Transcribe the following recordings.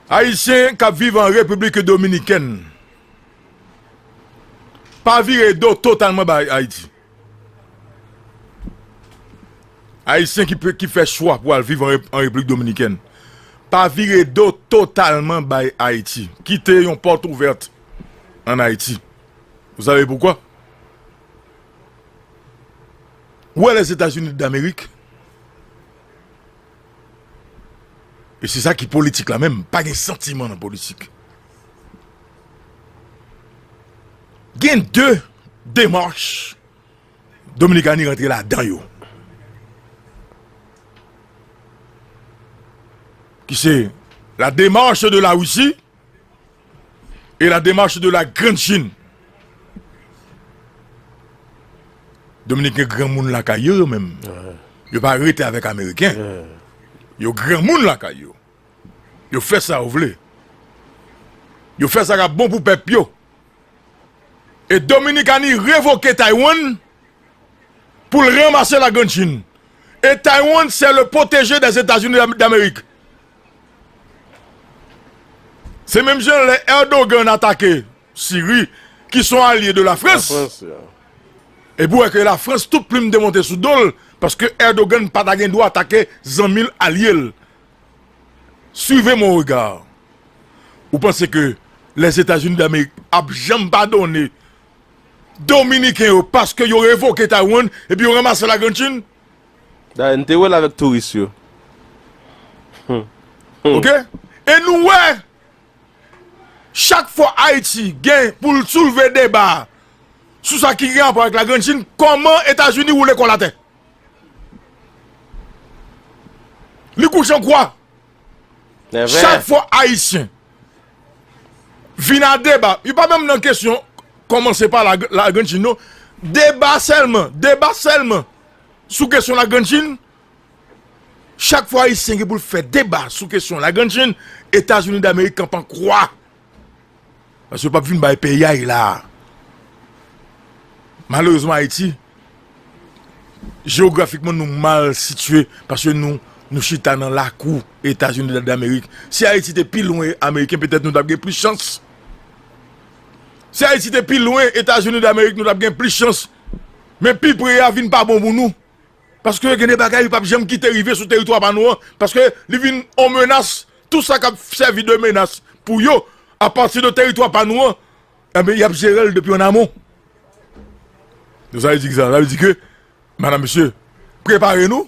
Ayisyen k ap viv an Repiblik Dominikèn pa vire do totalman bay Ayiti. Ayisyen ki fè chwa pou al viv an Repiblik Dominikèn pa vire do totalman bay Ayiti, kite yon pòt ouvèt an Ayiti. Ou save poukwa? Ou wè Lèzetazini Damerik? E se sa ki politik la menm, pa gen santiman nan politik. Gen 2 demach Dominikani rantre la dan yo. Ki se la demach de la Russie. et la démarche de la grande Chine. Dominiken gran moun lakay yo yo menm. Yo pa rete avèk Ameriken. Yo gran moun lakay yo. Yo fè sa yo vle. Yo fè sa kap bon pou pèp yo. E Dominikani revoke Taiwan pou l ranmase la grande Chine. E Taiwan se le poteje de Etazini d'Amerik. Se menm jan lè Erdogan atake Siri ki son alye de la Frans. E pou wè ke la Frans tout plim te monte sou dol paske Erdogan pa ta gen dwa atake zanmil alyel. Suivez mon regard. Ou panse ke les Etats-Unis d'Amerique ap janm padone Dominiken yo paske yo revoke Taiwan epi yo ramase la Grand Chine? Dayè n te wè l avèk touris yo. Ok e nou wè chak fwa Ayiti gen pou l soulve deba sou sa ki gen rapò avèk la Grand Chin kòman Etazini woule kò l atè. Li kouche an kwa. Chak fwa Ayisyen vin a deba, yo pa menm nan kesyon kòmanse pa la Grand Chin non, deba sèlman, deba sèlman. sou kesyon la grand chine chak fwa ayisyen gen pou l fè deba sou kesyon la grand chine etazini damerik kanpe an kwa paske yo pap vin bay payay la malerezman ayiti jeografikman nou mal sitye paske nou nou chita nan lakou etazini damerik si ayiti te pi lwen ameriken petèt nou tap gen plis chans si ayiti te pi lwen etazini damerik nou tap gen plis chans Men pi pre a vin pa bon pou nou. Paske gen de bagay li pap janm kite rive sou teritwa pa nou an. Paske li vin yon menas. Tout sa kap sèvi de menas pou yo a pati de teritwa pa nou an. Enben yap jerel depi an amon. Sa vle di ki sa? Sa vle di ke madam mesye prepare nou.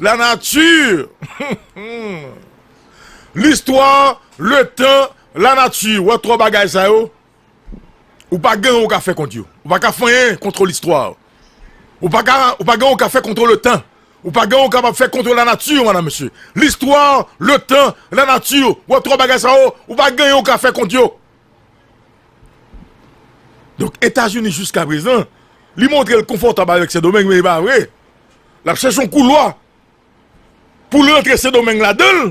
La nature L'histoire Le temps La nature Ou wè tro bagay sa yo Ou pa gen ou ka fè kont yo Ou pa ka fè anyen kontro l'histoire Ou pa ka Ou pa gen ou ka fè kontro le tan Ou pa gen ou ka fè kontro la nature Madame mesye L'histoire Le temps La nature Ou wè tro bagay sa yo Ou pa gen ou ka fè kont yo Donk Etazini jiska prezan Li montre l konfòtab avèk sendomeng men e pa vre Lap chèche yon koulwa pou l rantre Sendomeng ladan l.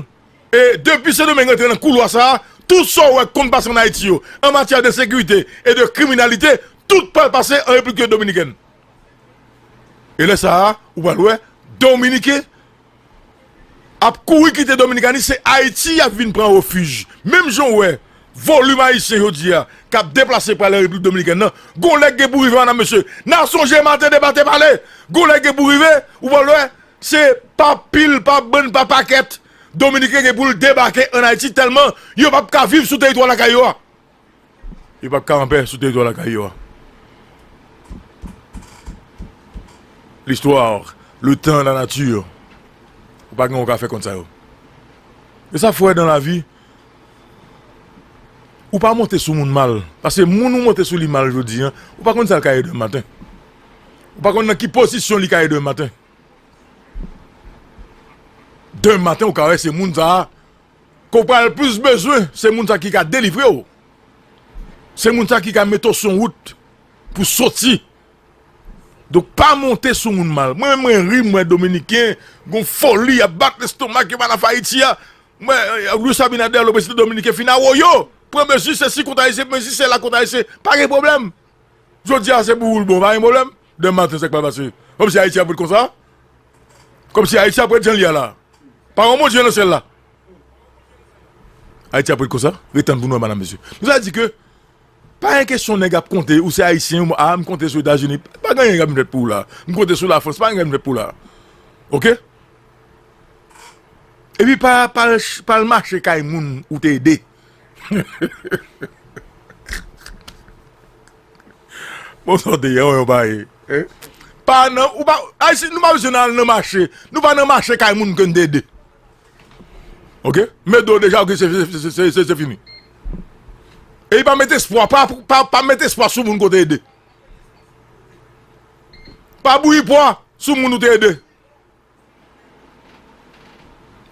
E depi Sendomeng rantre nan koulwa sa a, tout sa ou wè ki konn pase ann Ayiti yo, an matyè de sekirite e de kriminalite, tout pral pase an Replikk Dominikèn. E lè sa a, ou pral wè Dominiken. ap kouri kite Dominikani se Ayiti y ap vin pran refij. Menm jan w wè volim Ayisyen jodi a k ap deplase prale Repiblik Dominikèn nan, gon lè k gen pou rive an a mesye. N a sonje maten de pate pale, gon lè k gen pou rive ou pral wè se pa pil, pa bann, pa pakèt Dominiken gen pou l debake an Ayiti tèlman yo p ap ka viv sou teritwa lakay yo a. Yo pap ka anpè sou teritwa lakay yo a. L'histoire, le temps, la nature. Ou pa gen ou ka fè kont sa yo. E sa fwè dan lavi, ou pa monte sou moun mal. Pase moun ou monte sou li mal jodi an, ou pa konn sa l ka ye demen maten. Ou pa konn nan ki pozisyon li ka ye demen maten. Demen maten ou ka wè se moun sa a Ke w pral plis bezwen se moun sa ki ka delivre w, se moun sa ki ka mete w sou yon wout pou w soti. Donk pa monte sou moun mal. Mwen menm mwen ri m wè dominiken gon foli y ap bat lestomak yo pa nan fè Ayiti a. Mwen Luis Abinader le prezidan dominiken fin awoyo, pran mezi sesi kont Ayisyen, mezi sela kont Ayisyen. Pa gen pwoblèm. Jodi a se pou ou l bon pa gen pwoblèm. Demen maten sa k pral pase? Kòm si Ayiti ap ret konsa? Kòm si Ayiti ap ret jan l ye a la? Pa gen yon Bondye nan syèl la? Ayiti ap ret konsa? Ret tann pou nou wè madam mesye. Nou ta di ke pa gen kesyon nèg ap konte ou se Ayisyen ou a m konte sou Etazini. Pa gen anyen k ap vin fèt pou ou la. M konte sou Lafrans. Pa gen anyen k ap vin fèt pou ou la. Ok? Epi pa pa al pa al mache kay moun ou te ede. Bon sa w te ye an yon pa ye. Pa nan ou pa ayisyen nou pa bezwen nan al nan mache nou pa nan mache kay moun ke n te ede ok mete do deja ok se fini e pa mete espwa pa mete espwa sou moun ke w te ede pa bouyi pwa sou moun ou te ede.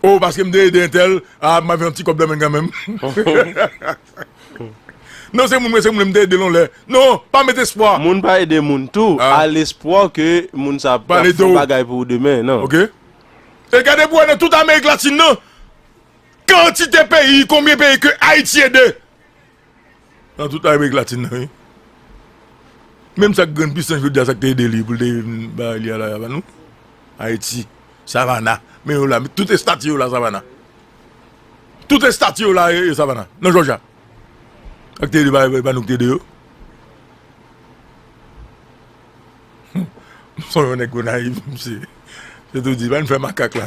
Oh paske m te ede entèl ah m ap yon ti kòb nan men l kanmenm Non se moun mwen se moun m te ede l yon lè Non pa met espwa Moun pa ede moun tou a lespwa ke moun sa ap fè yon bagay pou ou demen nan Ok E gade pou wè nan tout amerik latin nan kantite peyi konbyen peyi ke ayiti ede Nan tout Amerik Latin nan wi. Menm sak grenn pisan jodia sak te ede li pou te vin bagay li a la pa nou. Ayiti, Savana, men yo la tout estati yo la Savana. Tout estati yo la e Savana, nan Jòja. Sak te ede bagay pa nou ki te ede yo. Son yon nèg Gonayiv, msye. Se tou di, bann fè makak la.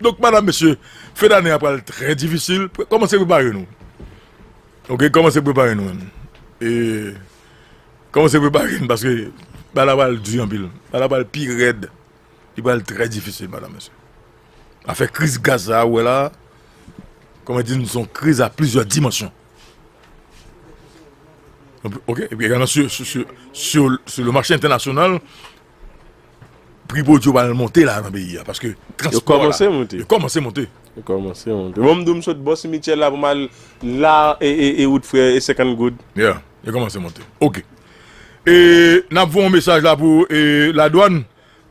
Donk madam mesye fen dane a pral trè difisil kòmanse prepare nou ok kòmanse prepare nou menm e kòmanse prepare nou paske bagay la pral di anpil bagay la pral pi rèd li pral trè difisil madam mesye afè kriz gaz sa ou wè la kòman di nou son kriz a plizyè dimansyon ok epi egalman sou sou sou le machè entènasyonal Pri pwodwi yo pral monte la nan peyi a paske transpò la. Yo kòmanse monte. Yo kòmanse monte. Yo kòmanse monte. Bon m di w m sot bò simityè la pou m al la e wout frè e 50 goud. Ya. Yo kòmanse monte. Ok. E n ap voye yon mesaj la pou ladwàn.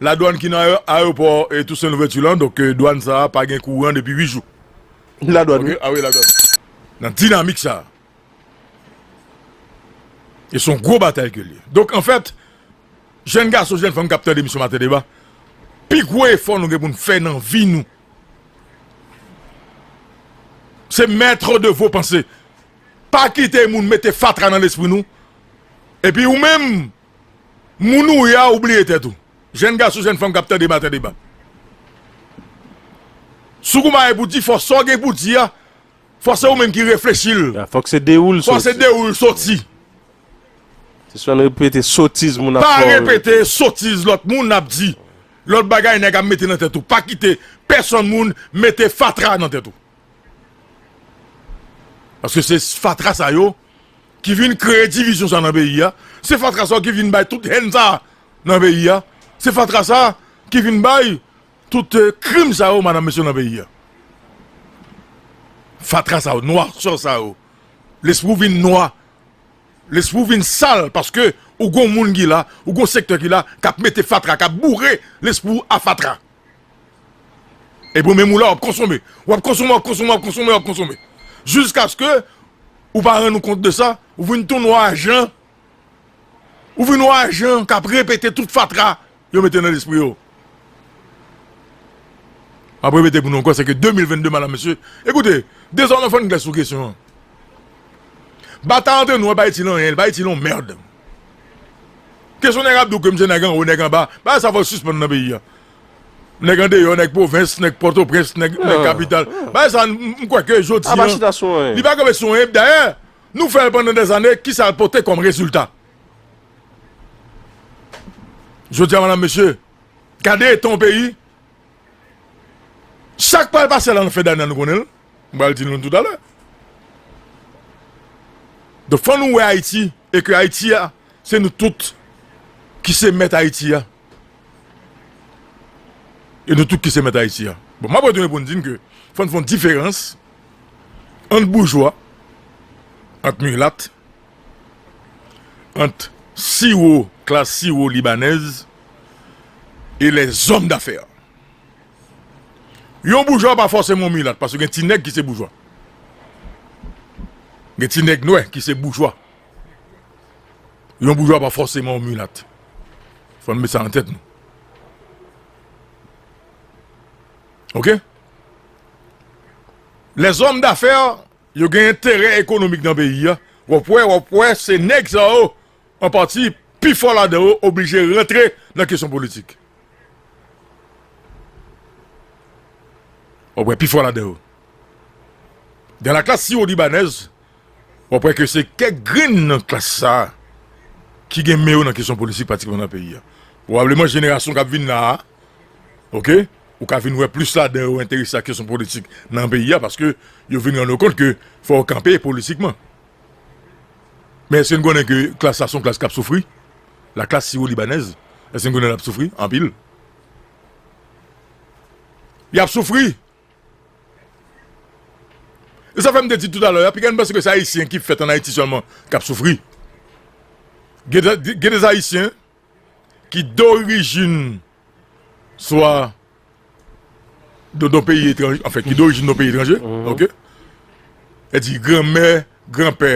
Ladwàn ki nan ayewopò Tousen Louvèti lan. Donk dwàn sa a pa gen kouran depi 8 jou. Ladwàn wi. A wi ladwàn. Nan dinamik sa a. E s on gwo batay ke l ye. Donk anfèt. Jèn gason, jèn fanm k ap tande emisyon Maten deba, pi gwo efò nou gen pou n fè nan vi nou, se maître de vos pensées. Pa kite moun mete fatra nan lespri nou. Epi ou menm, moun ou ye a ou bliye tèt ou. Jèn gason, jèn fanm k ap tande Maten deba. Soukoumaye pou di fò sa w gen pou di a. Fò se ou menm ki reflechi l. Fòk se de ou l soti. Fò se de ou l soti. Sispann repete sotiz moun ap fè w. Pa repete sotiz lòt moun ap di. Lòt bagay nèg ap mete nan tèt ou. Pa kite pèsonn moun mete fatra nan tèt ou. Paske se fatra sa yo ki vin kreye divizyon sa nan peyi a. Se fatra sa yo ki vin bay tout hèn sa nan peyi a. Se fatra sa ki vin bay Tout krim sa yo madam mesye nan peyi a. Fatra sa yo, noirceur sa yo. Lespri w vin nwa. Lespri w vin sal paske ou gon moun ki la, ou gon sektè ki la kap mete fatra, kap boure lespri w a fatra. Epi ou menm ou la wap konsome. Wap konsome, wap konsome, wap konsome, wap konsome. Jiskaske ou pa rann ou kont de sa, ou vin tou nwa jan Ou vin yon ajan kap repete tout fatra yo mete nan lespri yo. Map repete pou nou ankò se ke 2022 madam mesye, ekoute dezòmè fò n klè sou kesyon an. Batay antre nou an pa itil anyen, li pa itil yon mèrd. Kesyon nèg ap di w ke misye nèg anwo, nèg anba, bagay sa fò sispann nan peyi a. Nèg andeyò, nèg pwovens, nèg pòtoprens, nèg kapital, bagay sa m kwè ke jodi an, li pa kanpe sou anyen, dayè Nou fè l pandan dèzane, kisa l pote kòm rezilta? Jodi a madam mesye, gade eta yon peyi, sa k pral pase la nan fen dane an nou konnen l, m pral di nou l toutalè. Donk fò nou wè Ayiti e ke Ayiti a se nou tout ki se mèt Ayiti a. E nou tout ki se mèt Ayiti a. Bon m ap retounen pou m di n ke fò n fè yon diferans ant boujwa, ant milat, ant siwo, klas siwo libanèz e lèzòm dafè. Yon boujwa pa fòseman yon milat paske gen ti nèg ki se boujwa. Gen ti nèg nwè ki se boujwa. Yon boujwa pa fòseman yon milat. Fò n met sa nan tèt nou. Ok. Les hommes d'affaires yo gen enterè ekonomik nan peyi a, wap wè, wap wè se nèg sa yo an pati pi fò ladan yo oblije rantre nan kesyon politik. Wap wè pi fò ladan yo. Dans la classe siwodibanaise, wap wè ke se kèk grenn nan klas sa ki gen men yo nan kesyon politik patikilyaman nan peyi a. Pwobableman jenerasyon kap vin la a, Ok ou ka vin wè plis ladan yo enterese ak kesyon politik nan peyi a paske yo vin rann yo kont ke fò yo kanpe politikman men èske nou konnen ke klas la se yon klas k ap soufri la klas siwolibanèz èske nou konnen l ap soufri anpil y ap soufri e sa fè m te di tout alè a piga n panse ke se ayisyen ki fèt an ayiti sèlman k ap soufri gen de ayisyen ki dorijin swa don peyi etranje, anfen ki dorijin don peyi etranje, ok, e di granmè, granpè,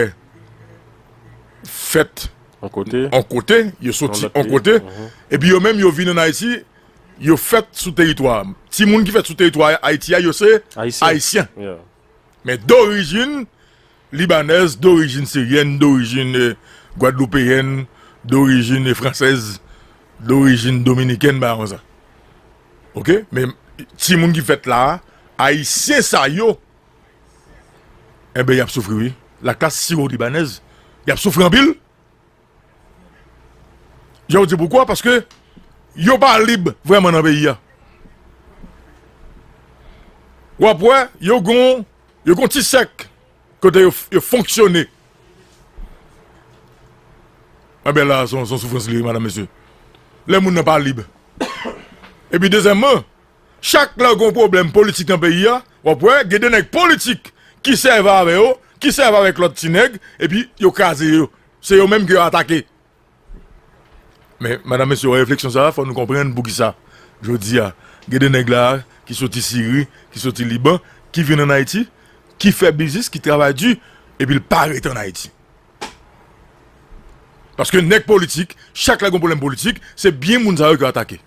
fèt an kote, yo soti an kote, e pi yo menm yo vin an Ayiti, yo fèt sou teritwa, ti moun ki fèt sou teritwa Ayiti a, yo se Ayisyen, men dorijin, Libanèz dorijin siryèn, dorijin gwadloupeyèn, dorijin fransèz, dorijin dominikèn bagay konsa. Ok men timoun ki fèt la a ayisyen sa yo enben y ap soufri wi laklas siwo libanèz y ap soufri anpil. Je w di poukwa? Paske yo pa lib vreman nan peyi a. Ou ap wè, yo gon, yo gon ti sèk kote yo fonksyone. A be la, son soufrans li, madame, mesye. Le moun nan pa lib. E pi dezèman, Chak lè gon pwoblèm politik nan peyi a, wap wè gen de nèg politik ki sèvi avè yo, ki sèvi avèk lòt ti nèg, epi yo kraze yo. Se yo menm ke yo atake. Men, madanm mesye wè refleksyon sa a, fò nou konprann pou ki sa jodi a gen de nèg la a ki soti Siri, ki soti Liban, ki vin an Ayiti, ki fè biznis, ki travay di, epi l pa rete an Ayiti. Paske nèg politik, chak lè gen yon pwoblèm politik, se byen moun sa yo yo atake.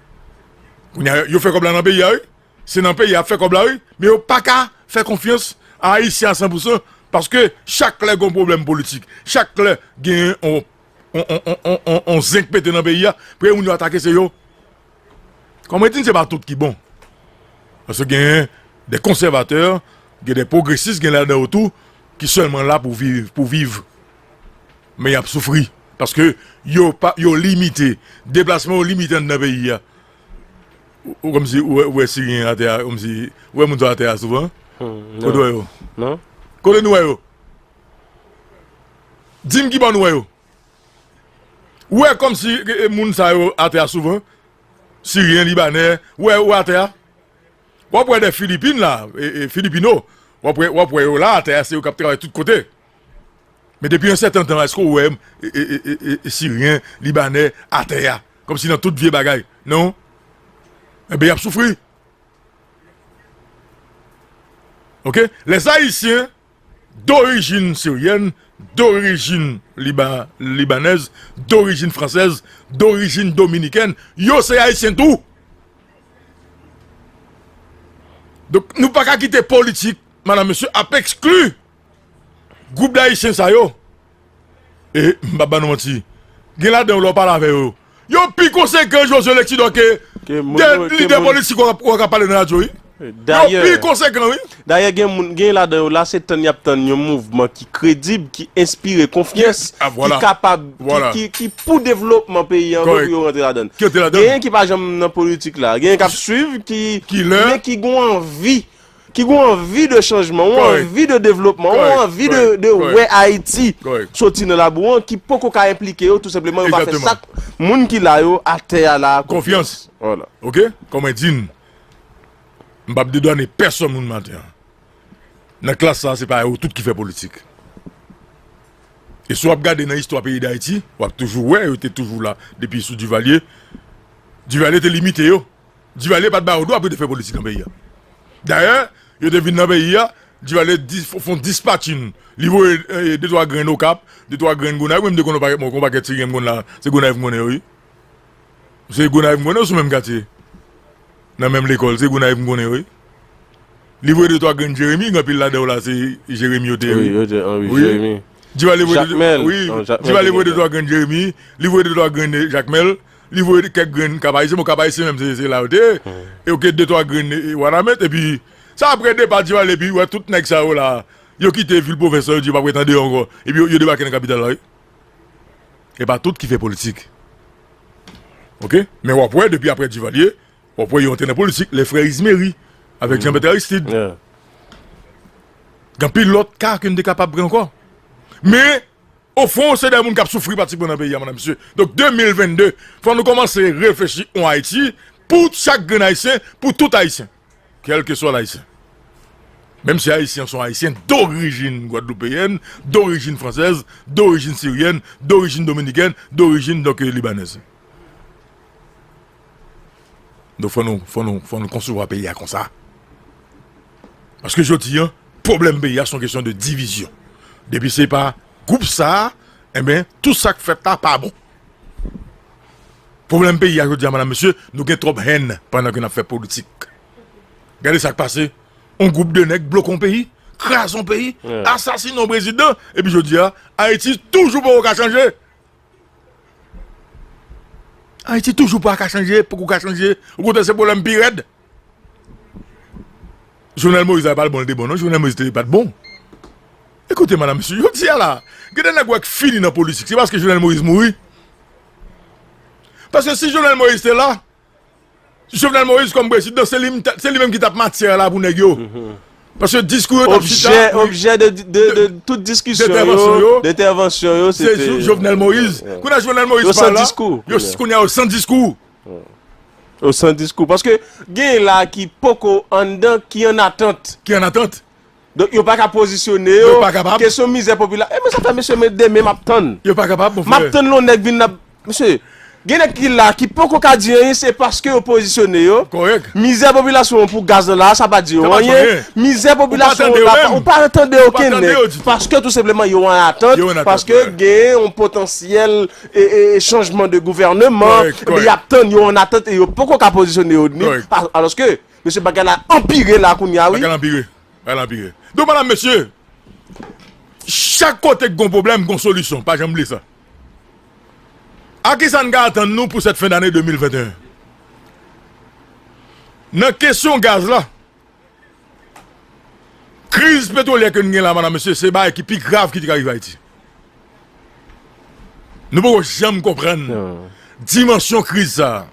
Kounye a, yo fè kòb la nan peyi a wi. Se nan peyi a y ap fè kòb la wi. Men yo pa ka fè konfyans a Ayisyen a san pou san. Paske chak lè gen yon pwoblèm politik, chak lè gen yon zenk pete nan peyi a, premye moun yo atake se yo. Kòm mwen di n se pa tout ki bon. Paske gen de konsèvatè, gen de pwogresis gen ladan yo tou ki sèlman la pou viv, pou viv. Men y ap soufri paske yo pa, yo limite, deplasman yo limite anndan peyi a. Ou kòmsi ou wè, ou wè Siryen atè a kòmsi, ou wè moun sa yo atè a souvan? Kote ou wè yo? Kote nou wè yo? Di m ki bò nou wè yo? Ou wè kòmsi moun sa yo atè a souvan, siryen, libanè, ou wè yo atè a? W'ap wè de filipin la, filipino, w'ap wè yo la atè a, se yo k'ap travay tout kote. Men depi yon sèten tan, èske ou wè siryen, libanè atè a, kòmsi nan tout vye bagay? Non. Enben y'ap soufri. Ok, les ayisyen. Dorijin siryèn, dorijin libanèz, dorijin fransèz, dorijin dominikèn, yo se ayisyen tou. Donk nou pa ka kite politik madan mesye ap ekskli gwoup dayisyen sa yo. E, m p ap ba nou manti, gen ladan yo lè w pale avè yo, yo pi konsekan Josue Lexidor ke lidè politik ou a k ap pale nan radyo wi. Yo pi konsekan wi. Dayè gen moun, gen ladan yo la se tann y ap tann yon mouvman ki kredib, ki enspire konfyans, ki kapab, ki pou devlopman peyi an vre pou yo rantre ladan l. Genyen ki pa janm nan politik la, genyen k ap swiv, men ki gen anvi. ki gen w anvi de chanjman, ou anvi de devlopman, ou anvi de wè Ayiti soti nan labou an ki poko ka enplike yo tou senpleman yo pa fè sa moun ki la yo a tè a la a konfyans. Ok, kon mwen di n, m pap dedwane pèsòn moun maten an. Nan klas sa a se pa yo tout ki fè politik. E si w ap gade nan istwa peyi Dayiti, w ap toujou wè yo te toujou la depi sou Divalye. Divalye te limite yo. Duvalier pat ba yo dwa pou yo te fè politik nan peyi a. Dayè, yo te vin nan peyi a, Duvalier di fon dispatching, li voye de twa grenn Okap, de twa grenn Gonayiv, mwen m te konn pa bon kon pakèt ti grenn m konn la, se Gonayiv m konnen yo wi. Se Gonayiv m konnen yo sou menm katye. Nan menm lekòl, se Gonayiv m konnen yo wi. Li voye de twa grenn Jeremi, gen anpil ladan yo la se Jeremi yo te ye wi. Yo te an wi Jeremi. Duvalier voye de twa grenn Jeremi, li voye de twa grenn Jakmèl, Li voye kèk grenn kab ayisyen, bon kab ayisyen menm se se la yo te ye, e yo gen de twa grenn wanament, epi sa apre depa ti pale epi ou wè tout nèg sa yo la yo kite vil pwovens lan yo di yo pa vle tande yo ankò epi yo debake nan kapital la wi. E pa tout ki fè politik ok, men wap wè depi apre Duvalier wap wè yo antre nan politik, lè frè Izmery avèk Jean Bertrand Aristide gen anpil lòt ka ke nou te kapab pran ankò men O fon se de moun kap soufri pratikman nan peyi a madam mesye. Donk 2022 fò nou kòmanse reflechi on Ayiti pou chak grenn ayisyen, pou tout ayisyen. Kèlkeswa l ayisyen. Menm si ayisyen an son ayisyen dorijin gwadloupeyèn, dorijin fransèz, dorijin siryèn, dorijin dominikèn, dorijin donk libanèz. Donk fò nou, fò nou, fò nou konsevwa peyi a konsa. Paske jodi an, pwoblèm peyi a son kesyon de divizyon. Depi se pa gwoup sa, enben, tout sa k fèt la pa bon. Pwoblèm peyi a jodi a, madam, mesye, nou gen twòp hèn pandan ke n ap fè politik. Gade sa k pase, yon gwoup de nèg bloke yon peyi, kraze yon peyi, asasine yon prezidan, epi jodi a, Ayiti toujou poko ka chanje! Ayiti toujou pa ka chanje, poko ka chanje, o kontrè se pwoblèm pi rèd. Jovenel Moïse la pa l bon, l te bon non, Jovenel Moïse te pa t bon. Ekoute madam, mesye, jodi a la, gen de nèg wè k fini nan politik, se paske Jovenel Moïse mouri. Paske si Jovenel Moïse te la. Jovenel Moïse kòm prezidan se li menm ki tap matyè la pou nèg yo. Paske diskou yo tap chita. Objè de tout diskisyon yo, de entèvansyon yo se te Jovenel Moïse. Kounye a Jovenel Moïse pa la, kounye a yo san diskou. Yo san diskou. Paske gen la ki poko anndan ki an atant. Ki an atant. Donk yo paka pozisyone yo. Yo pa kapab. Kesyon mizè popila. E men sa fè mesye men demen map tann. Yo pa kapab mon frè. Map tann lon nèg vin nan Mesye, gen nèg ki la ki poko ka di anyen se paske yo pozisyone yo. Kòrèk. Mizè popilasyon an pou gaz nan la a sa pa di yo anyen. Sa pa di yo anyen. Mizè popilasyon an la Ou pa tande yo menm. Ou pa tande okenn nèg. Ou pa tande yo ditou. Paske tou senpleman yo an atant. Yo an atant. Paske gen yon potansyèl e e chanjman de gouvèneman. Kòrèk, kòrèk. Epi yap tann yo an atant e yo poko ka pozisyone yo ni. Kòrèk. Alòske Mesye bagay la anpire la kounya wi. Bagay la anpire. Bagay la anpire. Don madam mesye. Chak kote ki gon pwoblèm gon solisyon pa janm bliye sa. A kisa n ka atann nou pou sèt fen dane 2021? Nan kesyon gaz la. Kriz petwolyè ke n gen la madam mesye se bagay ki pi grav ki te ka rive Ayiti. Nou poko janm konprann dimansyon kriz sa.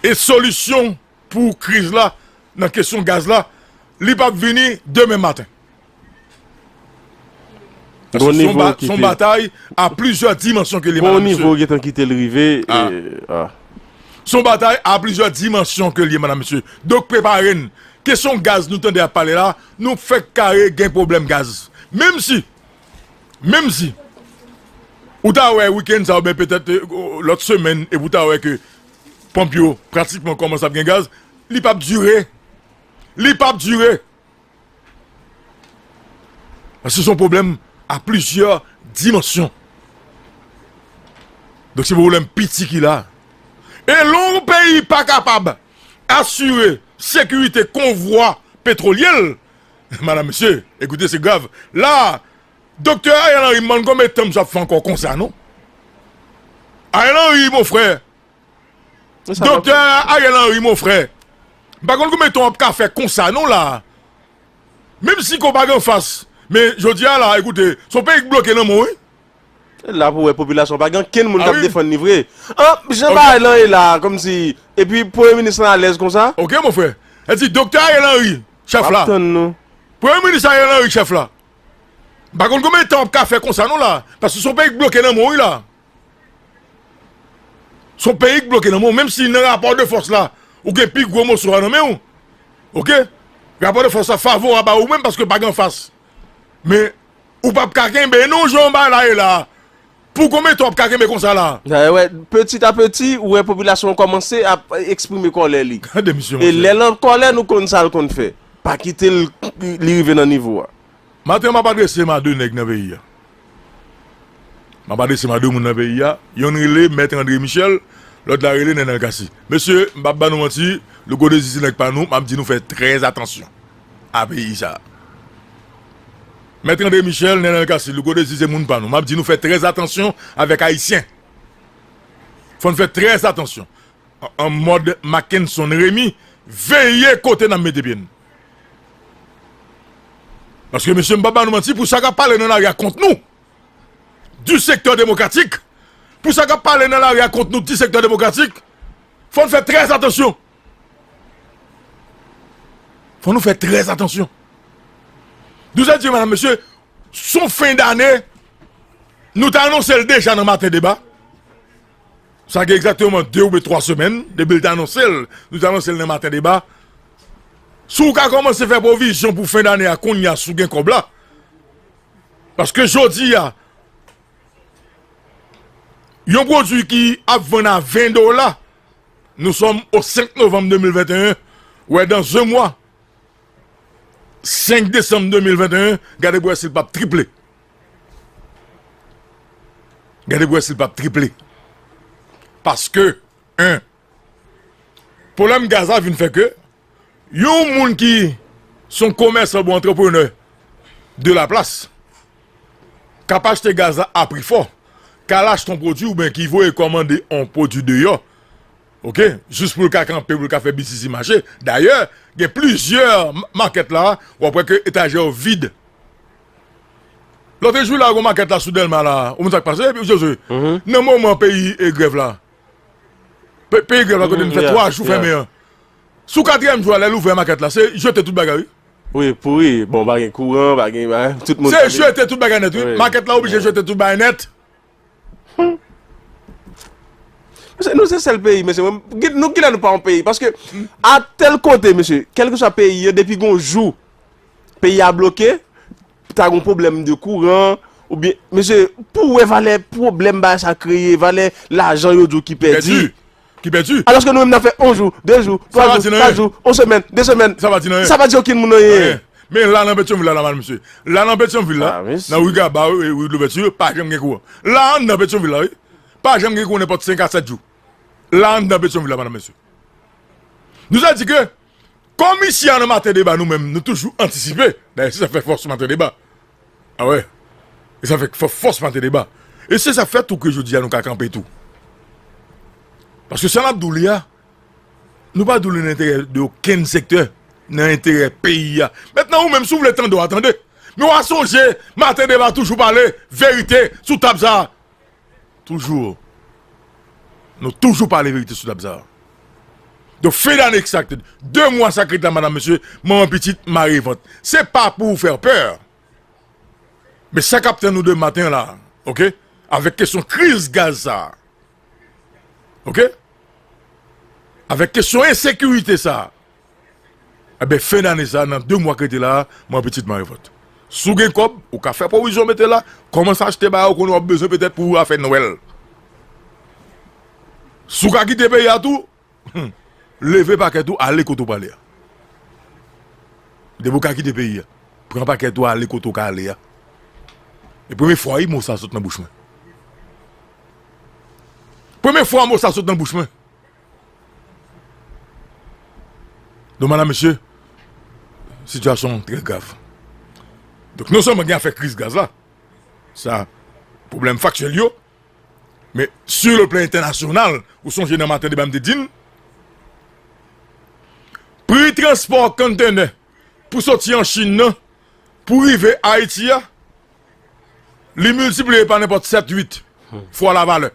E solisyon pou kriz la nan kesyon gaz la, li p ap vini demen maten. Paske se yon batay a plizyè dimansyon ke li menm mesye. Se yon batay a plizyè dimansyon ke li menm mesye. Donk prepare n. Kesyon gaz nou tande ap pale la, nou fèk kare gen pwoblèm gaz. Menm si Menm si ou ta wè wikenn sa oubyen petèt lòt semèn epi ou ta wè ke ponp yo pratikman kòmanse ap gen gaz, li pap dire. Li pap dire. Paske son pwoblèm a plizyè dimansyon. Donk se pwoblèm piti ki la. E lè yon peyi pa kapab asire sekirite konvwa petwolyè l, Madame mesye ekoute se grav la Doktè Ariel Henry m bann konbe tan m sa fè ankò konsa non Ariel Henry mon frè Doktè Ariel Henry mon frè m pa konn konbe tan wap ka fè konsa non la menm si kò w pa gen fas men jodi a la ekoute son peyi k bloke nan men w wi E la pou wè popilasyon pa gen ankenn moun k ap defann li vre. An, jan bagay lan ye la a, kòmsi, epi premye minis lan alèz konsa? Ok mon frè. Sa vle di Doktè Ariel Henry, chèf la. Map tann nou. Premye minis Ariel Henry, chèf la. M pa konn konbyen tan w ap ka fè konsa non la a. Paske se yon peyi k bloke nan men w wi la a. Se yon peyi k bloke nan men w. Menm si nan rapò de fòs la, ou gen pi gwo moso a nan men w. Ok. Rapò de fòs la favorab a ou menm paske pa gen anfas. Men, Ou pap ka kenbe non jan bagay la ye la. Pou konbyen tan wap ka kenbe konsa la? Peti a peti, ou wè popilasyon an kòmanse ap eksprime kòlè li. E lè l an kòlè nou konn sa l konn fè. Pa kite l li rive nan nivo a. Maten an map adrese m a 2 nèg nan peyi a. Map adrese m a 2 moun nan peyi a. Yonn rele Mèt Andre Michel, lòt la rele Nenel Cassy. Mesye, m pap ba nou manti, Louko Désir se nèg pa nou, map di nou fè trè atansyon. a peyi sa. Mèt Andre Michel, Nenel Cassy, Louko Désir se moun pa nou. Map di nou fè trè atansyon avèk ayisyen. Fòn fè trè atansyon. An mòd Mackenson Remy, veye kote nan mete pye n. Paske mesye m pap ba nou manti pou sa kap pale nan lari a kont nou. Du sektè demokratik. Pou sa kap pale nan lari a kont nou du sektè demokratik. Fòn fè trè atansyon. Fò nou fè trè atansyon. Douzè diyo mèdam mesye, son fen dane, nou ta anonse l deja nan maten deba. Sa gen egzatèman 2 oube 3 semèn, debil ta anonse l, nou ta anonse l nan maten deba. Sou ka kòmanse fè pwovizyon pou fen dane a koun ya sou gen kòb la. Paske jodi ya, yon pwodwi ki ap vann a 20 dola, Nou sòm o 5 novanm 2021, wè dan ze mwa 5 desanm 2021, gade pou wè si l pap triple. Gade pou wè si l pap triple. Paske, 1. Pwoblèm gaz la vin fè ke, Yon moun ki se yon komèsan oubyen antreprenè de Laplace k ap achte gaz la a pri fò, k al achte yon pwodui oubyen ki voye kòmande yon pwodui deyò jis pou l ka kanpe, pou l ka fè bitizi mache. Dayè, gen plizyè makèt la, w ap wè ke etajè yo vid. Lòt jou la, gen yon makèt la sou Dèlma la, ou konn sa k pase? Nan moman peyi grèv la, Peyi grèv la kote nou fè 3 jou fèmen an. Sou katriyèm jou a lè l ouvè makèt la se jete tout bagay wi. Wi pouri bon pa gen kouran pa gen tout moun. Se jete tout bagay nèt wi makèt la oblije jete tout bagay nèt. Mesye nou se sèl peyi mesye nou kilè nou pa yon peyi paske a tèl kote mesye kèlkeswa peyi yo depi gon jou peyi a bloke. Ta gon pwoblèm de kouran, oubyen, mesye, pou wè valè pwoblèm bagay sa kreye, valè lajan yo di w ki pèdi. Ki pèdi. Alòske nou menm n ap fè yon jou, de jou, twa jou, kat jou, yon semèn, de semèn. Sa pa di nan anyen. Sa pa di okenn moun anyen. Men la nan Petyonvil la nòmal mesye. La nan Petyonvil la, nan ri Gaba yo e ri Dlouvèti yo, pa janm gen kouran. La anndan Petyonvil la wi. Pa janm gen kouran nenpòt 5 a 7 jou. La anndan Petyonvil la madam mesye. Nou sa di ke. Kòm isi a nan maten deba nou menm nou toujou antisipe, dayè se sa k fè fòs maten deba, awè e sa fè k fè fòs maten deba e se sa k fè tou ke jodi a nou ka kanpe tou paske sa n ap di w li a nou pa di w li nan enterè de okenn sektè nan enterè peyi a mètnan ou menm si w vle tande w a tande men w a sonje maten deba toujou pale verite sou tab sa a. Toujou Nou toujou pale verite sou tab sa Don fin dane kisa ki te 2 mwa sa ki ret la madam mesye manman pitit mare vant se pa pou fè pè men sa kap tann nou demen maten an la ok avèk kesyon kriz gaz sa ok avèk kesyon ensekirite sa. Enben fen dane sa nan 2 mwa k rete la mwen pitit marivòt. Si w gen kòb ou ka fè pwovizyon mete la, kòmanse achte bagay ou konnen w ap bezwen petèt pou afè nwèl. Si w ka kite peyi a tou, leve pakèt ou ale kote w prale a. Depi w ka kite peyi a, pran pakèt ou ale kote w ka ale a. E premye fwa wi mo sa sot nan bouch mwen. Premye fwa mo sa sot nan bouch mwen. Don madam mesye sitiyasyon an trè grav donk non sèlman gen afè kriz gaz la sa pwoblèm faktyèl yo men si yo plen entènasyonal ou sonje nan maten deba m te di n pri transpò konntenè pou soti an chin nan pou rive ayiti a li miltipliye pa nenpòt 7 8 fwa la valè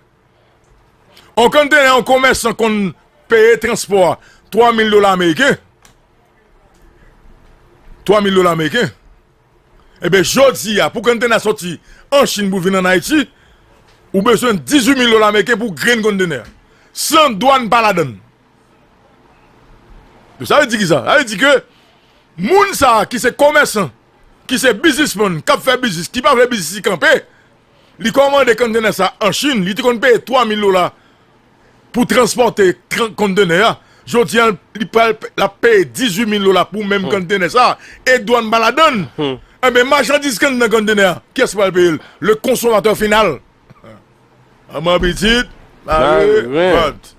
On kontenè yon komèsan konn peye transpò a 3 mil dola ameriken, 3 mil dola ameriken, ebe jodi a pou kontenè a sòti an Chin pou vin an Ayiti, ou bezwen 18 mil dola ameriken pou grenn kontenè a, san dwàn pa ladan l. Donk sa vle di ki sa? Sa vle di ke moun sa a ki se komèsan, ki se bizismann, k ap fè biznis, ki pa vle biznis li kanpe, Li kòmande konntenè sa an Chin, li te konn peye 3 mil dola pou transpòte konntenè a, jodi an li pral lap peye 18 mil dola pou menm konntenè sa, e dwàn pa ladann, enben machandiz ki anndan konntenè a, kiyès ki pral peye l? Le konsomatè final! Manman pitit, mare vant.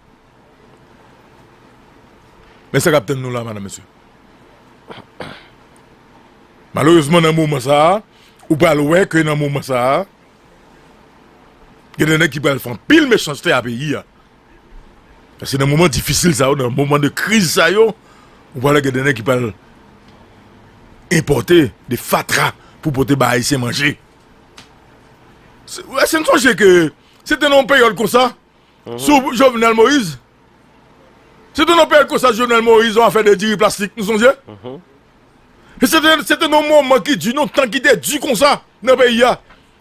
Men sa k ap tann nou la madan mesye. Malerezman nan moman sa a, ou pral wè ke nan moman sa a, gen de nèg ki pral fè anpil mechanste a peyi a. Paske nan moman difisil sa yo, nan moman de kriz sa yo, ou pral wè gen de nèg ki pral enpòte de fatra pou pote bay Ayisyen manje. Èske n sonje ke se te nan yon peryòd konsa, Sou Jovenel Moise, se te nan peryòd konsa Jovenel Moise yon afè de diri plastik, nou sonje? E se te, se te nan yon moman ki di, nan yon tan ki te di konsa nan peyi a.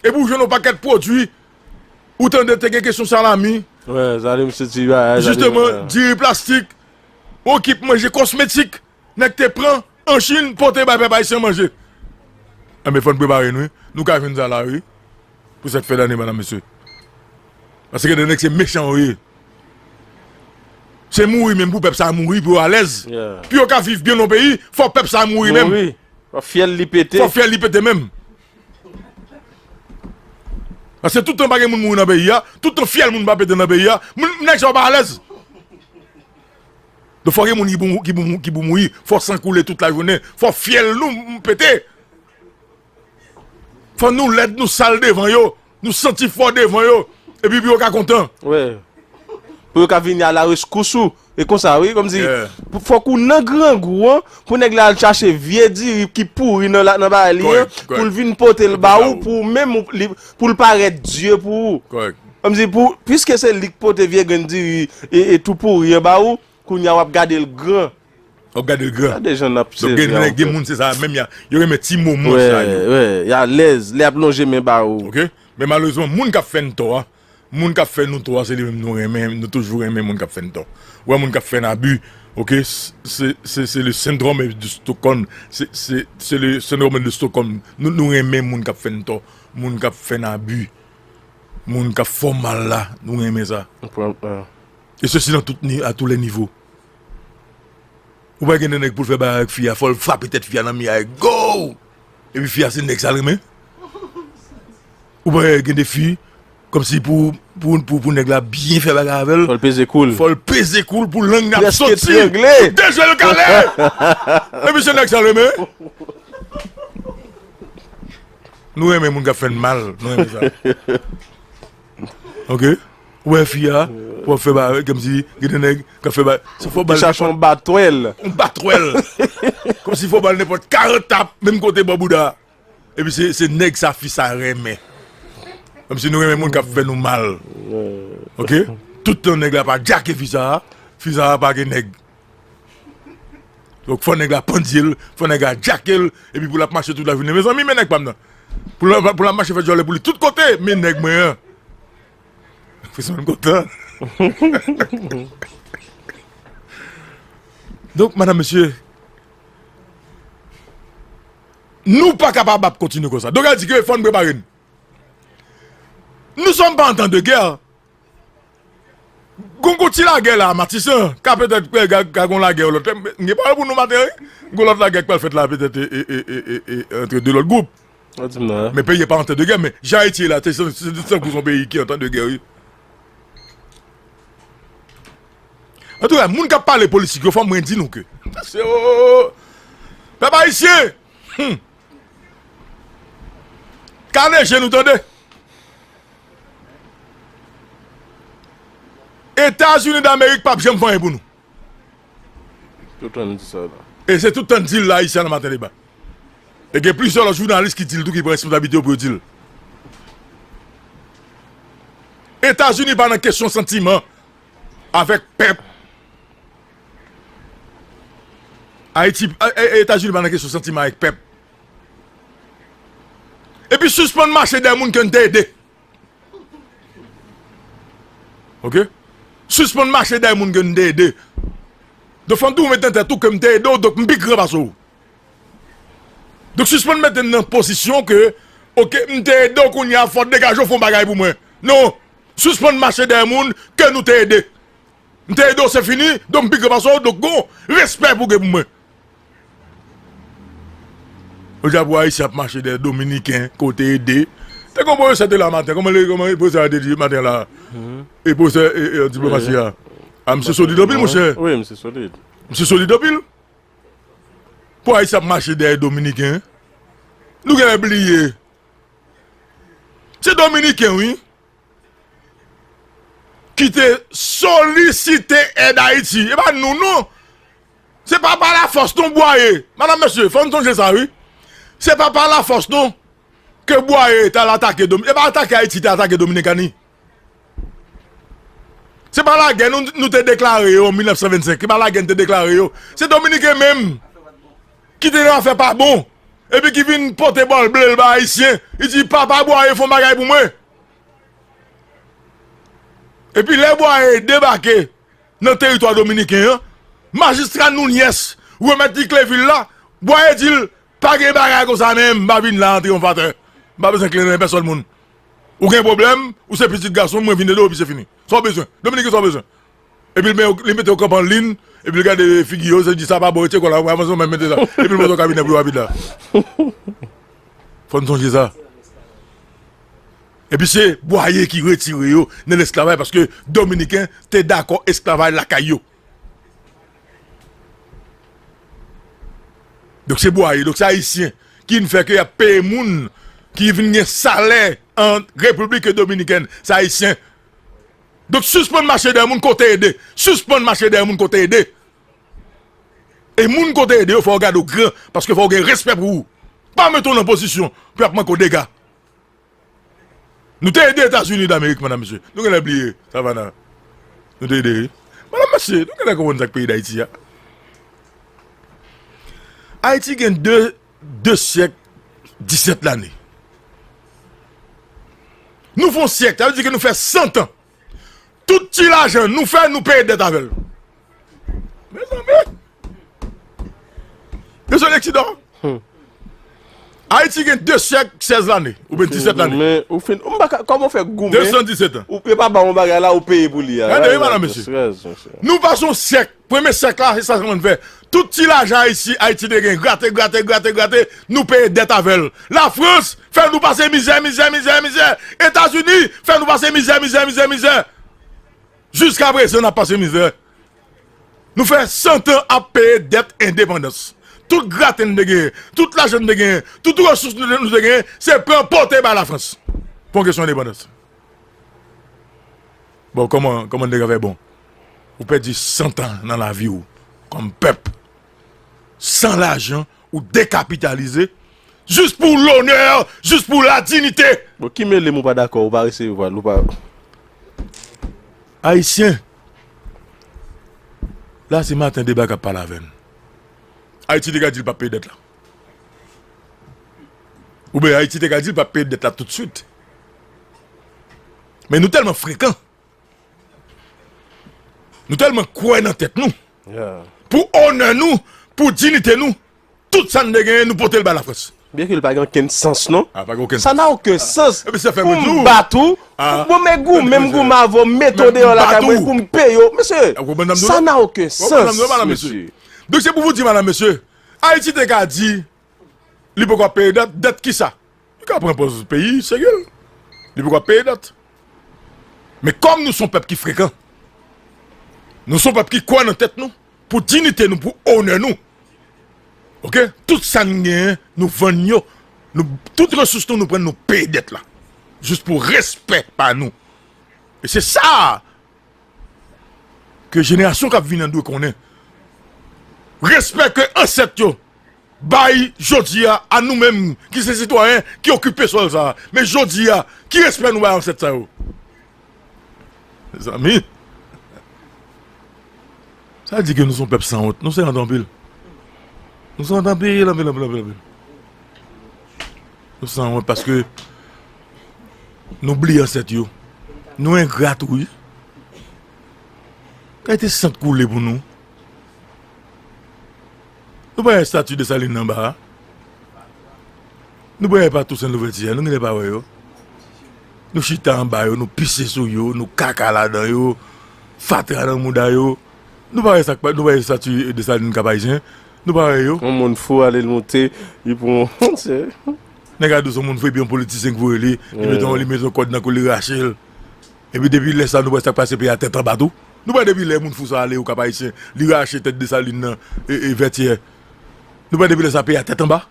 E pou w jwenn yon pakèt pwodui, ou tande te gen kesyon salami, jisteman diri plastik, yon ekip manje kosmetik, Nèg te pran an chine pote bay pèp ayisyen manje enben fòn prepare nou wi nou ka jwenn sa la wi pou sèt fèt ane madam mesye pase gen de nèg se mechan yo ye se mouri menm pou pèp sa mouri pou yo alèz pou yo ka viv byen nan peyi fò pèp sa mouri menm fò fyèl li pete fò fyèl li pete menm pase toutan pa gen moun mouri nan peyi a toutan fyèl moun pa pete nan peyi a moun nèg sa yo pa alèz. Donk fò gen moun ki pou mouri, fò san koule tout la jounen, fò fyèl nou pete, fò nou lèd, nou sal devan yo, nou santi fò devan yo, epi pou yo ka kontan. Wè, pou yo ka vini a la reskous ou, e konsa wi, kòm si, fò kou nan grangou an, pou nèg la al chache vye diri ki pouri nan bagay li an, pou l vin pote l ba ou, pou ou menm, pou l parèt dye pou ou. Kòrèk. Kòmsi pou, piske se li k pote vye grenn diri e tou pouri an ba ou, kounye a w ap gade l gran. W ap gade l gran. Gade jan n ap sèvi a w. Donk gen moun se sa menm, yo renmen ti moman sa yo. Wè, wè, y alèz lè y ap lonje men ba ou. Ok, men malerezman moun k ap fè n tò a, moun k ap fè nou tò a se li menm nou renmen, nou toujou renmen moun k ap fè n tò. Ou wè moun k ap fè n abi, ok, se se le syndrome de Stockholm, se se se le syndrome de Stockholm, nou renmen moun k ap fè n tò, moun k ap fè n abi. Moun kap fò mal la nou renmen sa. E sesi nan tout ni a tou lè nivo. Ou pa gen de nèg poul fè bagay ak fi a fòl frape tèt fi a nan mi a gouuw. Epi fi a se nèg sa renmen. Ou pa gen de fi kòm si pou pou nèg la byen fè bagay avèl. Fòl peze koul. Fòl peze koul pou lang nan soti. Preske trangle. Pou de jwè yo kale. Epi se nèg sa renmen. Nou renmen moun kap fèn mal nou renmen sa ok ou wè fi a pou ap fè bagay kòmsi gen de nèg kap fè bagay se fò bal chache yon batwèl yon batwèl kòmsi fò bal nenpòt 40 tap menm kote bò bouda epi se se nèg sa fi sa renmen kòmsi nou renmen moun kap fè nou mal ok toutan nèg la pa djake fi sa fi sa pa gen nèg. Donk fò nèg la pandye l, fò nèg la djake l, epi pou l ap mache tout lajounen. Mezanmi men nèg pa m nan! Pou l ap mache fè djòlè pou li tout kote men nèg mwen an! Frisman kontan. Donk madan mesye, nou pa kapab ap kontinye konsa. Donk sa vle di ke fò n prepare n. Nou sòm pa an tan de gè. Gon gon ti lagè la matisan ka petèt ka gon lagè yon lòt lè m gen pawòl pou nou maten wi gon lòt lagè k pral fèt la petèt antre 2 lòt gwoup men peyi a pa antè de gè men jan ayiti ye la se tankou son peyi ki antè de gè wi antouka moun kap pale politik yo fòm mwen di nou ke pèp ayisyen humm Kale je nou tande. Etazini damerik pap janm fè anyen pou nou. Tout tan nou di sa la. E se tout tan nou dil la ayisyen nan maten deba. E gen plizyè lòt jounalis ki dil tou ki pran responsablite yo pou yo dil. Etazini pa nan kesyon santiman avèk pèp. Ayiti, Etazini pa nan kesyon santiman ak pèp. Epi sispann mache dèyè moun ke n te ede. Ok? Sispann mache dèyè moun ke n te ede. Donk fò n toujou mete nan tèt ou ke m te ede w, donk m pi gran pase w. Donk sispann mete m nan pozisyon ke ok, m te ede w kounye a fò w degaje w fè yon bagay pou mwen. Non! Sispann mache dèyè moun ke nou te ede. M te edo se fini don m pi gran pase w donk gon respè pou gen pou mwen. Ou di pou ayisyen ap mache dèyè dominiken ke w te ede. Te gon pwofesè te la maten kòman li kòman pwofesè a te di maten la e pwofesè e diplomasi a a misye solid anpil monchè. Wi misye solid. Misye solid anpil. Pou ayisyen ap mache dèyè dominiken nou genlè bliye se dominiken wi ki te solisite èd Ayiti, e pa nou non, se pa pa la fòs non Bwaye, madan mesye fò nou sonje sa wi, se pa pa la fòs non ke Bwaye ta al atake Dominikani, e pa atake Ayiti te atake Dominikani, se pa la gè nou te deklare yo an 1925, e pa la gè nou te deklare yo, se Dominiken menm ki te nan afè pa bon, e pi ki vin pote bòl ble l ba Ayisyen, li di pa pa Bwaye fon bagay pou mwen. Epi lè Boyer debake nan teritwa dominiken an, majistra Nuñez remèt li kle vil la, Boyer di l, Pa gen bagay konsa men, m pa vin la an triyonfatè, m pa bezwen kle nan men pèsòn moun. Ou gen pwoblèm, ou se pitit gason m, mwen vin ede w epi se fini. Sa w bezwen? Dominiken sa w bezwen? Epi li mete yon kanpe an lin, epi li gade figi yo, li di sa pa bon, retire kò la, avanse ou menm mete sa. Epi li monte kabinè pou yo rapid la. Fò n sonje sa. Epi se Bwaye ki retire yo nan lesklavay paske Dominiken te dakò esklavay lakay yo. Donk se Bwaye, donk se Ayisyen ki vin fè ke y ap peye moun ki vin gen salè an Repiblik Dominikèn, se Ayisyen. Donk sispann mache dèyè moun ke w te ede. Sispann mache dèyè moun ke w te ede. E moun ke w te ede yo fò yo gade w gran paske fò yo gen respè pou ou. Pa mete w nan pozisyon pou y ap manke w dega. Nou te ede Etazini Damerik madam mesye. Nou genlè bliye Savannah. Nou te ede wi. Madam mesye nou genlè konprann sa k peyi Dayiti a. Ayiti gen 2. 2 syèk 17 lane. Nou fon syèk, sa vle di ke nou fè 100 tan. Tout ti lajan nou fè, nou peye dèt avèl. Mezanmi! Yo se leksidan. Ayiti gen 2 syèk 16 lane, ou ben 17 lane. Mwen goumen, ou fin, ou mba ka, kòman ou fè goumen? 217 tan. Ou pe pa ba yon bagay la, ou peye pou li a. Gade yon bagay mesye. Nou pa son syèk. Premye syèk la se sa Saint-Simon te fè. Tout ti lajan Ayiti, Ayiti te gen, grate, grate, grate, grate, nou peye dèt avè l. Lafrans fè nou pase mizè, mizè, mizè, mizè. Etazini fè nou pase mizè, mizè, mizè, mizè. Jiska prezan n ap pase mizè. Nou fè santan ap peye dèt endepandans. Tout grate n te genyen, tout lajan n te genyen, tout resous nou te genyen, se pran pote bay Lafrans pou yon kesyon endepandans. Bon koman koman nèg afè bon ou pèdi santan nan lavi ou kòm pèp san lajan ou dekapitalize jis pou lonè jis pou la dinite. Bon ki melem ou pa dakò ou pa resevwal ou pa. Ayisyen la se maten deba kap pale avèn ayiti te ka dil pap peye dèt la oubyen ayiti te ka dil pap peye dèt la tout swit. Men nou tèlman frekan. Nou tèlman kwè nan tèt nou. Pou onè nou, pou dinite nou, tout sa n te genyen nou pote l bay Lafrans. Byen ke li pa gen okenn sans non. A pa gen okenn sans. Sa nan okenn sans. Epi sa fè mwen di w. Pou m bat ou. A. Bon men gou men m gou m avè w m mete w deyò lakay mwen pou m peye w. Mesye. A konprann sa m di w la. Sa nan okenn sans. Ou konprann sa m di w la madam mesye. Donk se pou m di madam mesye. Ayiti te ka di li poko ap peye dèt. Dèt kisa? Nou ka pran pòz peyi serye depi wap peye dèt. Men kòm nou son pèp ki frekan, nou son pèp ki kwè nan tèt nou, pou dinite nou, pou onè nou. Ok, tout sa nou genyen nou vann yo, nou tout resous nou nou pran nou peye dèt la. Jis pou respè pa nou. E se sa a ke jenerasyon kap vini an dwe konnen. Respè ke ansèt yo. Bay jodi a, a nou menm ki se sitwayen ki okipe sòl sa a, men jodi a, ki respè nou bay ansèt sa yo? Mezanmi! Sa di ke nou se yon pèp san wont. Nou san wont anpil. Nou san wont anpil, anpil, anpil, anpil, anpil. Nou san wont paske nou bliye ansèt yo. Nou engra tou wi. Kayte san te koule pou nou. Nou pa wè estati Desalin nan anba a? Nou pa wè pa Tousen Louvèti a? Nou genlè pa wè yo? Nou chita anba yo, nou pise sou yo, nou kaka ladan yo, fatra nan mouda yo. Nou pa wè sa k pa, nou pa wè estati Desalin Kapayisyen? Nou pa wè yo? Yon moun fou ale l moute, li pran yon moun se. Nèg a di w se yon moun fou epi yon politisyen k voye li, li mete yon, li mete yon kòd nan kou l li rache l. Epi depi lè sa nou wè sak pase peyi a tèt anba tou. Nou wè depi lè moun fou sa ale okap ayisyen li rache tèt Dessalines nan e vètyè nou wè depi lè sa peyi a tèt anba.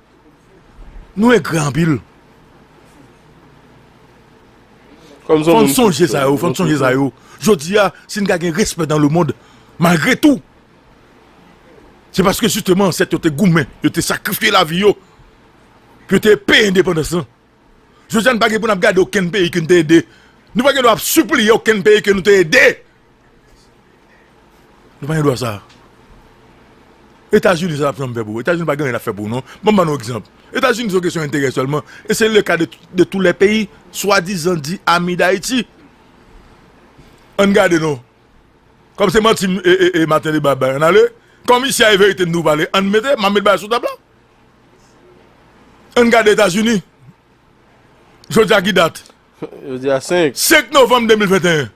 Nou engra anpil. Fòn sonje sa yo fòn sonje sa yo jodi a sin ta gen respè dan le mond malgre tou se paske jisteman ansèt yo te goumen yo te sakrifye lavi yo pou yo te peye endepandans lan. Jodi a nou pa gen pou n ap gade okenn peyi ke nou te ede. Nou pa gen dwa ap sipliye okenn peyi ke nou te ede. Nou pa gen dwa sa. Etazini sa l ap janm fè pou ou? Etazini pa gen anyen l ap fè pou ou non. Ban m ban nou egzanp. Etazini se yon kesyon enterè sèlman. E se le ka de tou lè peyi swadizan di ami Dayiti. An n gade non. Kòm se manti Martelly bay bay an n ale. Kòm isi a e verite n nou pale an n mete. M ap met bagay sou tab la. Ann gade Etazini, jodi a ki dat? Jodi a 5. 5 novanm 2021.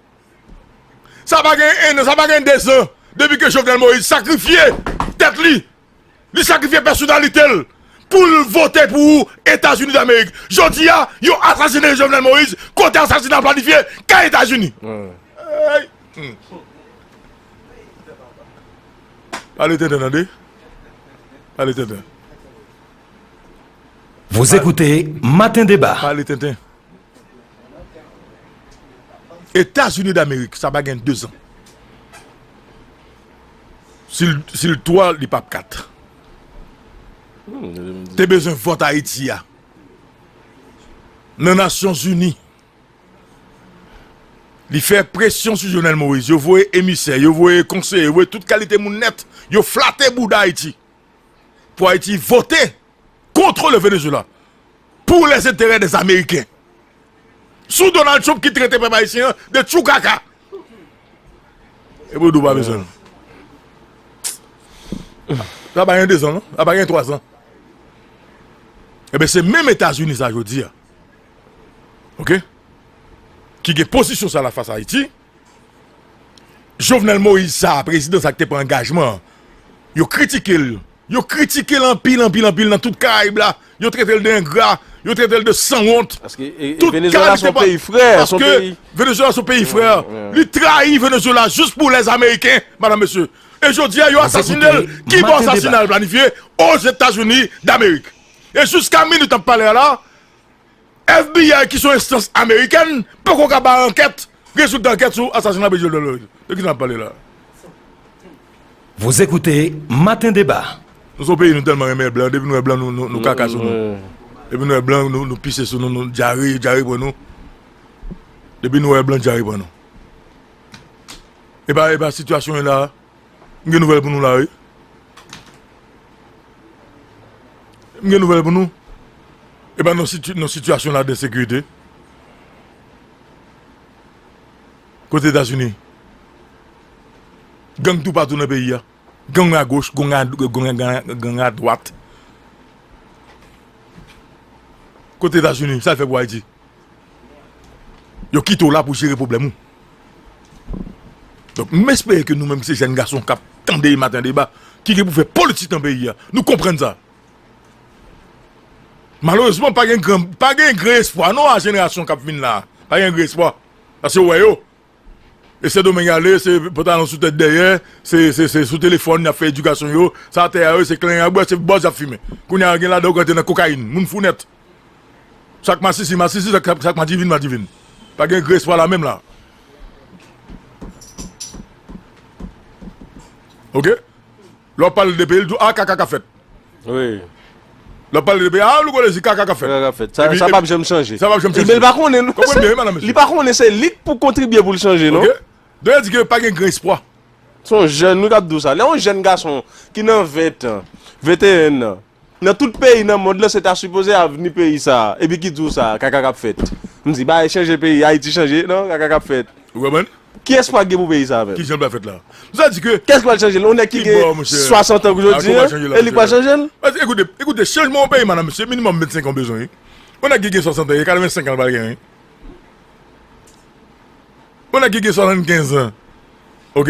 Sa pa gen 1 an, sa pa gen 2 zan depi ke Jovenel Moïse sakrifye tèt li, li sakrifye pèsonalite l pou l vote pou Etazini Damerik. Jodi a, yo asasine Jovenel Moïse kote asasina a planifye, kay Etazini. Eyy! Pale tenten tande Pale tenten. Vous écoutez matin débat. Pale tenten. Etazini damerik sa pa gen 2 zan. Si l 3 li pap 4. Te bezwen vòt Ayiti a. Nan nasyon zini. Li fè presyon sou Jovenel Moïse, yo voye emisè, yo voye konseye, yo voye tout kalite moun nèt, yo flate bouda Ayiti pou Ayiti vote kontre le Venezuela pou les enterè des Ameriken. Sou Donald Trump ki trete pèp Ayisyen an de tchou kaka. Epi w di w pa bezwen l. Sa pa gen 2 zan non, sa pa gen 3 zan. Eben se menm Etazini sa jodi a. Ok Ki gen pozisyon sa la fas Ayiti Jovenel Moïse sa a prezidan sa ki te pran angajman an yo kritike l yo kritike l anpil anpil anpil nan tout karayib la yo trete l de engra yo trete l de sanwont Paske Venezuela son peyi frè Paske Venezuela son peyi frè li trayi Venezuela jis pou lèz ameriken madan mesye e jodi a yo asasine l ki bon asasina l planifye Ozetazini damerik. E jiska minit n ap pale a la, FBI ki se yon enstans amerikèn poko ka bay ankèt, rezilta ankèt sou asasina Prezidan Jovenel Moïse. De ki sa n ap pale la? Vous écoutez matin débat. Nou son peyi nou tèlman renmen blan depi nou wè blan nou kaka sou nou depi nou wè blan nou pise sou nou nou dyare dyare pran nou depi nou wè blan dyare pran nou epa epa sitiyasyon ye la. M gen nouvèl pou nou la wi. M gen nouvèl pou nou. E pa nan sitiyasyon la de sekirite. Kote Etazini. Gang tou patou nan peyi a. Gang a goch, gang a dwat. Kote Etazini, sa l fè pou Ayiti. Yo kite w la pou jere pwoblèm ou. Donk, m espere ke nou menm ki se jèn gason k ap tande e maten deba, ki gen pou fè politik nan peyi a, nou konprann sa. Malerezman, pa gen gran espwa non a jenerasyon k ap vin la a. Pa gen gran espwa. Paske ou wè yo, E sendomeng ale se pantalon sou tèt dèyè se sou telefòn yap fè edikasyon yo sa tè a yo se klen yap bwè se bòz yap fimen kounye a gen ladan yo rantre nan kokayin moun fou nèt sak masisi masisi sak madivin madivin pa gen gre espwa la menm la ok. Lè w pale de peyi l di w a kaka ka fèt. Wi. Lè w pale de peyi a louko lezi kaka ka fèt. Kaka ka fèt. Sa sa pap janm chanje. Sa pap janm chanje. Men l pa konnen non. Konprann byen wi madam mesye. Li pa konnen se li k pou kontribye pou l chanje non. Ok. Don yo di ke pa gen gran espwa. Se yon jèn wi k ap di w sa. Lè yon jèn gason ki nan 20 tan, 21 nan. Nan tout peyi nan mond lan se ta sipoze avni peyi sa epi ki di w sa kaka kap fèt m di bagay chanje peyi ayiti chanje nan kaka kap fèt Ou konprann? kiyès pral gen pou peyi sa menm? Kijan l pral fèt la? M sa di ke Kiyès k pral chanje l? Yon nèg ki gen 60 an jodi an e li k pral chanje l? Pase ekoute ekoute chanjman yon peyi madam se minimòm 25 an bezwen wi yon nèg ki gen 60 an e 85 an l pral gen wi yon nèg ki gen 75 an ok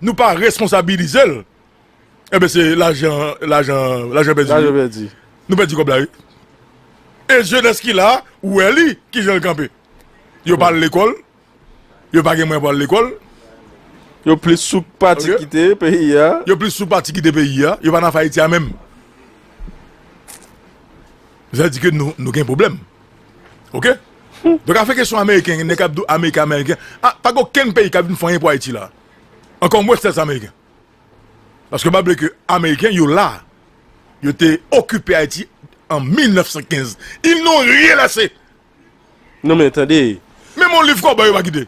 Nou pa responsabilize l. Enben se lajan lajan pèdi wi. Lajan pèdi. Nou pèdi kòb la wi. E jenès ki la wè li ki jan l kanpe. Yo pa al lekòl. Yo pa gen mwayen pou al lekòl. Yo plis sou pati kite peyi a. Yo plis sou pati kite peyi a. Yo pa nan afè Ayiti a menm. Sa vle di ke nou gen pwoblèm. Ok? Donk afè kesyon ameriken, nèg k ap di w ameriken ameriken. Pa gen okenn peyi k ap vin fè anyen pou Ayiti la a. ankò mwens lè se ameriken. Paske pa bliye ke ameriken yo la, yo te okipe Ayiti an 1915. Ils n'ont rien laissé! Non men tande. Menm yon liv kòbòy yo pa kite.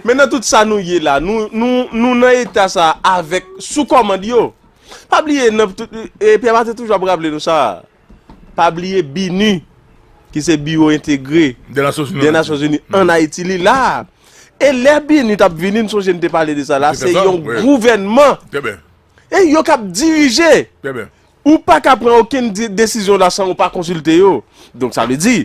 Men nan tout sa nou ye la, nou nan eta sa avèk sou kòmand yo. Pa bliye, Pierre Martin toujou ap raple nou sa, Pa bliye BINUH, ki se Biwo Entegre dè Nasyonzini ann Ayiti, li la a. E lè BINUH t ap vini, m sonje n te pale de sa la, se yon gouvènman. Trè byen. E yo k ap dirije. Trè byen. Ou pa ka pran okenn desizyon la san ou pa konsilte yo. Donk sa vle di,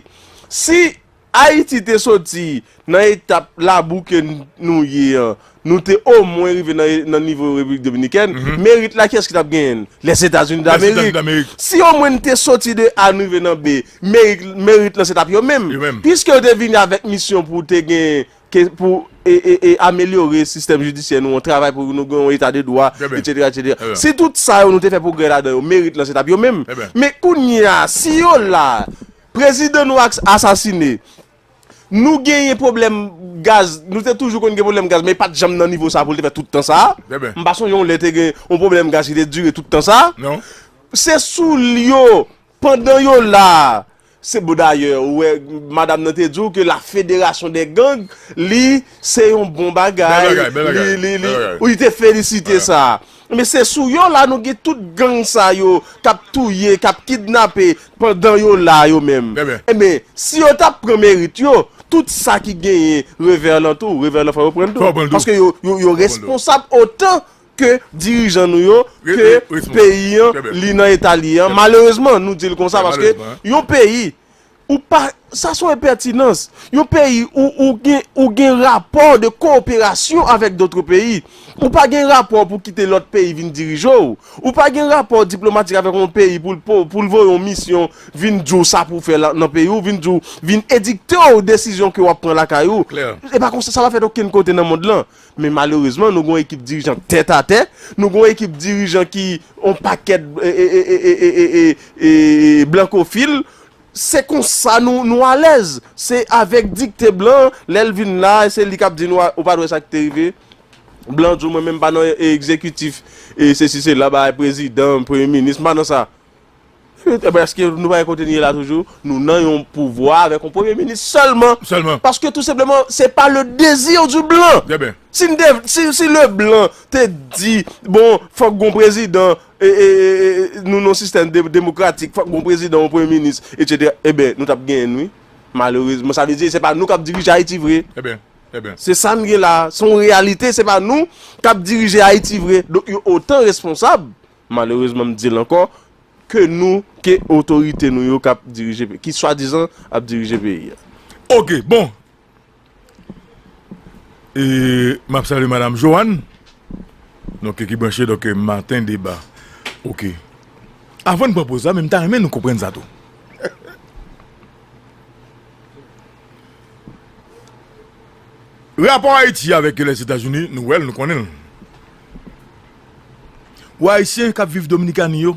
si. Ayiti te soti nan etap labou ke nou ye an, nou te omwen rive nan nivo Repiblik Dominikèn, merit la kiyès ki t ap genyen l? Lèzetazini Damerik. Si omwen n te soti de A n rive nan B, merit lan se t ap yo menm. Piske yo te vini avèk misyon pou te gen, pou amelyore sistèm jidisyè nou an, travay pou nou gen yon eta de dwa, etsetera, etsetera. Si tout sa yo nou te fè pwogrè ladan yo, merit lan se t ap yo menm. Men kounye a, si yo la, Prezidan nou ak asasine. Nou genyen pwoblèm gaz, nou te toujou konn gen pwoblèm gaz men li pat janm nan nivo sa pou li te fè tout tan sa. M pa sonje yon lè te gen yon pwoblèm gaz ki te dire tout tan sa. Se sou l yo, pandan yo la, se bon dayè ou wè madam nan te di w ke la federasyon dè gang li se yon bon bagay li li li li te felisite sa. Men se sou yo la nou gen tout gang sa yo kap touye, kap kidnape pandan yo la yo menm. Enben, si yo ta pran merit yo, tout sa ki genyen Reverland tou, Reverland fò yo prann tou. Paske yo responsab otan ke dirijan nou yo, ke peyi an li nan eta li an. Malerezman nou dil konsa paske yon peyi. Ou pa, sa son enpètinans. Yon peyi ou ou gen ou gen rapò de koperasyon avèk dotre peyi. Ou pa gen rapò pou kite lòt peyi vin dirije w. Ou pa gen rapò diplomatik avèk yon peyi pou l po pou l voye yon misyon vin di w sa pou w fè la nan peyi w, vin di w, vin edikte w desizyon ke w ap pran lakay ou. Klè. Se pa konsa, sa pa fèt okenn kote nan mond lan. Men malerezman nou gen yon ekip dirijan tèt atè, nou gen yon ekip dirijan ki yon pakèt e e e e e e e blankofil, Se konsa nou alèz. Se avèk dikte blan an, lè l vin la a, se li k ap di nou ou pa t wè sa ki te rive, blan an di w mwen menm m pa nan egzekitif e sesi sela, bagay prezidan, premye minis, m pa nan sa. Ebyen èske nou pa wè kote nou ye la toujou? Nou nan yon pouvwa avèk yon premye minis sèlman. Sèlman. Paske tou senpleman se pa le dezi di blan. Trè byen. Si le blan te di bon fòk gon prezidan, Nou nan sistèm demokratik, fòk gon prezidan, yon premye minis, etc. Eben, nou tap genyen n wi. Malerezman, sa vle di se pa nou kap dirije Ayiti vre. Eben, eben. Se sa n gen la, se yon reyalite, se pa nou kap dirije Ayiti vre. Donk yo otan responsab, malerezman m di l ankò, ke nou, ke otorite nou yo kap dirije, ki swadizan ap dirije peyi a. Ok, bon. E map salye madam Joanne. Non ke ki branche donk maten deba. Ok. Avan n pran poz la men m ta renmen nou konprann sa tou. Rapò Ayiti avèk Lèzetazini nou wè l, nou konnen l. Pou Ayisyen k ap viv Dominikani yo.